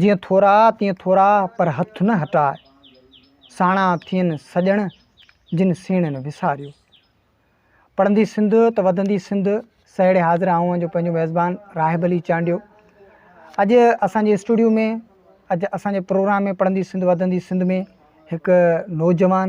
جيئن ٿورا تيئن ٿورا پر هٿ نه هٽاء. ساڻا ٿين سڄڻ جن سيڻن وساريو. پڙهندي سنڌ ته وڌندي سنڌ سهيڙي حاضر آهون جو پنهنجو ميزبان راهب علي چانڊيو اڄ اسان جي اسٽوڊيو ۾ اڄ اسان جي پروگرام ۾ پڙهندي سنڌ وڌندي سنڌ ۾ هڪ نوجوان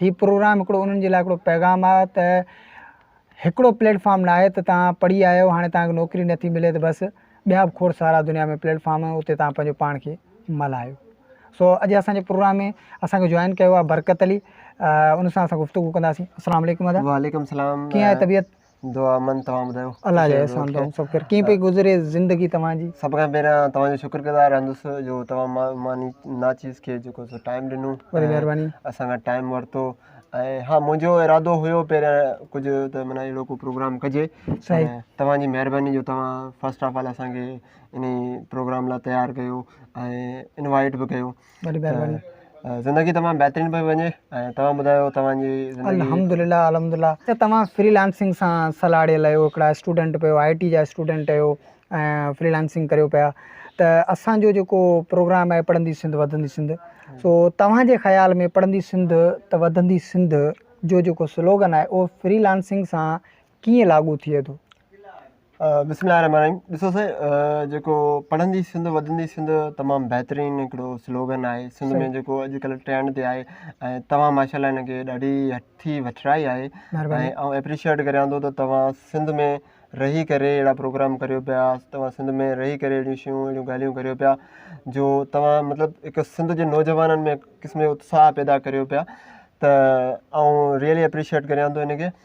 هي پروگرام هڪڙو انهن جي لاء هڪڙو پيغام آ ته هڪڙو پليٽ فارم ناهي ته توهان پڙهي آيو هاڻي توهان کي نوڪري نٿي ملي ته بس ٻيا به کوڙ سارا دنيا ۾ پليٽ فارم آهن اتي توهان پنهنجو پاڻ کي ملهايو سو اڄ اسان جي پروگرام ۾ اسان کي جوائن ڪيو آ برڪت علي ان سان اسان گفتگو ڪنداسين السلام عليڪم ادا وعليڪم السلام ڪيئن آهي طبيعت دعا امن توهان ٻڌايو. الله جي احسان توهان سڀ کي ڪيئن پئي گذري زندگي توهان جي. سڀ کان پهريان توهان جو شڪر گذار رهندس جو توهان مان ماني ناچيز کي جيڪو سو ٽائيم ڏنو وڏي مهرباني اسان کان ٽائيم ورتو ۽ ها منهنجو ارادو هيو پهريان ڪجهه ته معنيٰ اهڙو ڪو پروگرام ڪجي صحيح ۽ توهان جي مهرباني جو توهان فرسٽ آف آل اسان کي انهي پروگرام لاء تيار ڪيو ۽ انوائيٽ به ڪيو وڏي مهرباني. زندگي تمام بهترين پئي وڃي ۽ توهان ٻڌايو توهان جي زندگي. الحمدلله الحمدلله ته توهان فري لانسنگ سان سلاڙيل آهيو هڪڙا اسٽوڊنٽ پيو آئي ٽي جا اسٽوڊنٽ اهيو ۽ فري لانسنگ ڪريو پيا ته اسان جو جيڪو پروگرام آهي پڙهندي سنڌ وڌندي سنڌ سو توهان جي خيال ۾ پڙهندي سنڌ ته وڌندي سنڌ جو جيڪو سلوگن آهي اهو فري لانسنگ سان ڪيئن لاڳو ٿئي ٿو؟ بسم الله الرحمٰن الرحيم ڏسو سائين جيڪو پڙهندي سنڌ وڌندي سنڌ تمام بهترين هڪڙو سلوگن آهي سنڌ ۾ جيڪو اڄ ڪلهه ٽرينڊ تي آهي ۽ توهان ماشاء الله هن کي ڏاڍي هٺي وٺرائي آهي ۽ آئون ايپريشيئيٽ ڪريان ٿو ته توهان سنڌ ۾ رهي ڪري اهڙا پروگرام ڪريو پيا توهان سنڌ ۾ رهي ڪري اهڙيون شيون اهڙيون ڳالهيون ڪريو پيا جو توهان مطلب هڪ سنڌ جي نوجوانن ۾ قسم جو اتساهه پيدا ڪريو پيا ته آئون ريئلي ايپريشيئيٽ ڪريان ٿو هن کي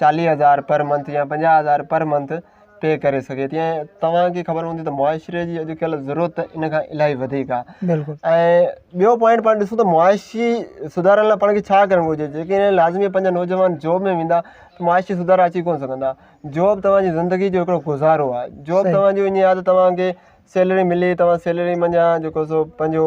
چاليهه هزار پر منٿ يا پنجاهه هزار پر منٿ پي ڪري سگهي ٿي ۽ توهان کي خبر هوندي ته معاشري جي اڄڪلهه ضرورت ان کان الاهي وڌيڪ آهي ۽ ٻيو پوائنٽ پاڻ ڏسون ته معاشي سڌارن لاء پاڻ کي ڇا ڪرڻ گهرجي جيڪي لازمي پنهنجا نوجوان جاب ۾ ويندا ته معاشي سڌارا اچي ڪونه سگهندا جاب توهانجي زندگي جو هڪڙو گذارو آهي جاب توهانجو ائين آهي ته توهانکي سيلري ملي توهان سيلري منجهان جيڪو سو پنهنجو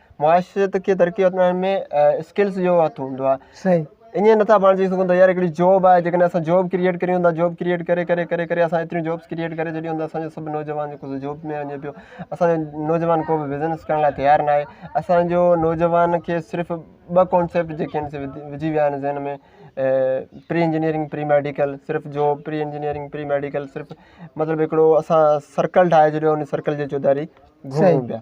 معاشرت کي ترقي اچڻ ۾ اسڪلس جو هٿ هوندو آهي صحيح ائين نٿا پاڻ چئي سگهون ته يار هڪڙي جاب آهي جيڪڏهن اسان جاب ڪريئيٽ ڪريون ٿا جاب ڪريئيٽ ڪري ڪري ڪري ڪري اسان ايتريون جابس ڪريئيٽ ڪري ڇڏيون ته اسانجو سڀ نوجوان جيڪو سو جاب ۾ وڃي پيو اسانجو نوجوان ڪو به بزنس ڪرڻ لاء تيار ناهي اسانجو نوجوان کي صرف ٻه ڪانسيپٽ جيڪي آهن سي وجهي ويا آهن ذهن ۾ پري انجنيئرنگ پري ميڊيڪل صرف job pre engineering pre medical صرف مطلب هڪڙو اسان سرڪل ٺاهي ڇڏيو ان سرڪل جي چوڌاري گهمون پيا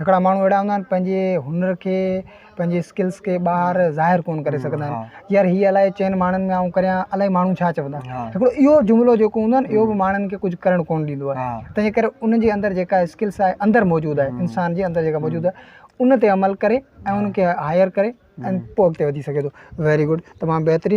هڪڙا ماڻهو اهڙا هوندا آهن پنهنجي هنر کي پنهنجي اسڪلس کي ٻاهر ظاهر ڪون ڪري سگهندا آهن يار هي الائي چئن ماڻهن ۾ آئون ڪريان الائي ماڻهو ڇا چوندا هڪڙو اهو جملو جيڪو هوندو آهي اهو به ماڻهن کي ڪجهه ڪرڻ ڪون ڏيندو آهي تنهنجي ڪري ان جي اندر جيڪا اسڪلس آهي اندر موجود آهي انسان جي اندر جيڪا موجود آهي ان تي عمل ڪري ۽ ان کي هائر ڪري ۽ پوء اڳتي وڌي سگهي ٿو ويري گڊ تمام بهترين